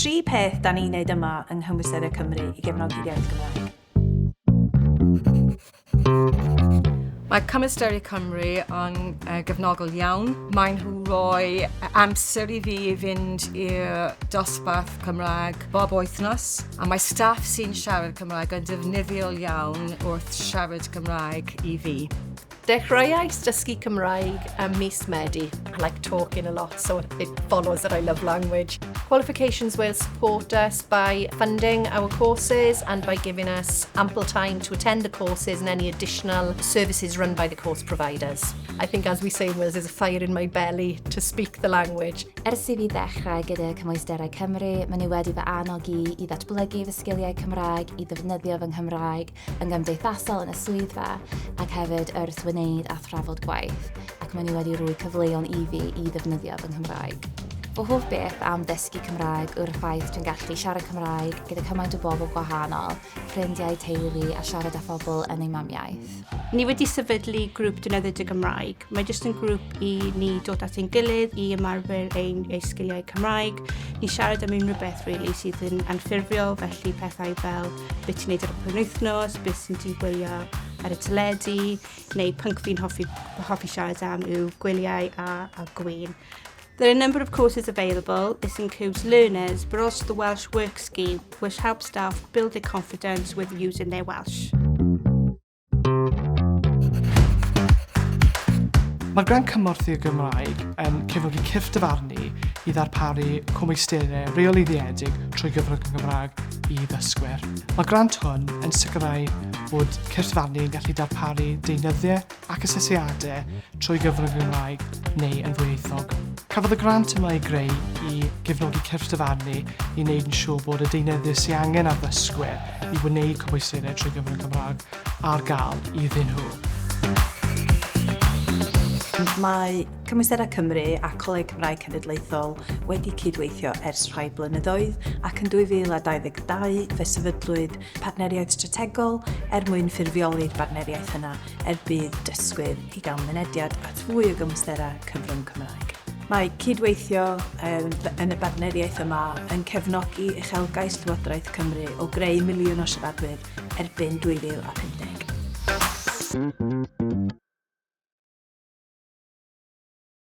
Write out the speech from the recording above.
Tri peth da ni'n gwneud yma yng Nghymwysterau Cymru i gefnogi'r iaith Gymraeg. Mae Cymwysterau Cymru yn uh, gefnogol iawn. Maen nhw roi amser i fi i fynd i'r dosbarth Cymraeg bob wythnos a mae staff sy'n siarad Cymraeg yn defnyddiol iawn wrth siarad Cymraeg i fi. Dechreuais dysgu Cymraeg ym mis Medi. I like talking a lot, so it follows that I love language. Qualifications will support us by funding our courses and by giving us ample time to attend the courses and any additional services run by the course providers. I think as we say in Wales, there's a fire in my belly to speak the language. Ers i fi ddechrau gyda Cymwysterau Cymru, maen nhw wedi fy annog i i ddatblygu fy sgiliau Cymraeg, i ddefnyddio fy Nghymraeg, yn gymdeithasol yn y swyddfa ac hefyd wrth wneud a thrafod gwaith, ac maen nhw wedi rhoi cyfleon i fi i ddefnyddio fy Nghymraeg. Fy hoff beth am ddysgu Cymraeg yw'r ffaith dwi'n gallu siarad Cymraeg gyda cymaint o bobl gwahanol, ffrindiau, teulu a siarad â phobl yn eu mamiaith. Ni wedi sefydlu grŵp defnyddio dy Gymraeg. Mae jyst yn grŵp i ni dod at ein gilydd i ymarfer ein, ei sgiliau Cymraeg, i siarad am unrhyw beth really, sydd yn anffurfiol, felly pethau fel beth ti'n neud ar y penwythnos, beth sy'n ti'n gwylio ar y teledu, neu pync fi'n hoffi, hoffi siarad am yw gwyliau a, a gwyn. There are a number of courses available. This includes learners, but also the Welsh Work Scheme, which helps staff build their confidence with using their Welsh. Mae'r Grant Cymorth i'r Gymraeg yn cefnogi cyrff dyfarnu i ddarparu cwmeisterau reolyddiedig trwy gyfrwng y Gymraeg i ddysgwyr. Mae grant hwn yn sicrhau bod cyrff dyfarnu yn gallu darparu deunyddiau ac asesiadau trwy gyfrwng y Gymraeg neu yn ddwyieithog. Cafodd y grant yma ei greu i gefnogi cyrff dyfarnu i wneud yn siŵr bod y deunyddiau sy'n angen ar ddysgwyr i wneud cwbwysiaethau trwy gyfrwng y Gymraeg ar gael iddyn nhw. Mae Cymwysterau Cymru a Coleg Cymraeg Cenedlaethol wedi cydweithio ers rhai blynyddoedd ac yn 2022 fe sefydlwyd partneriaeth strategol er mwyn ffurfioli'r bartneriaeth yna er budd dysgwyr i gael mynediad at fwy o gymwysterau cyfrwng Cymraeg. Mae cydweithio yn y bartneriaeth yma yn cefnogi uchelgais Llywodraeth Cymru o greu miliwn o siaradwyr erbyn 2050. Thank you.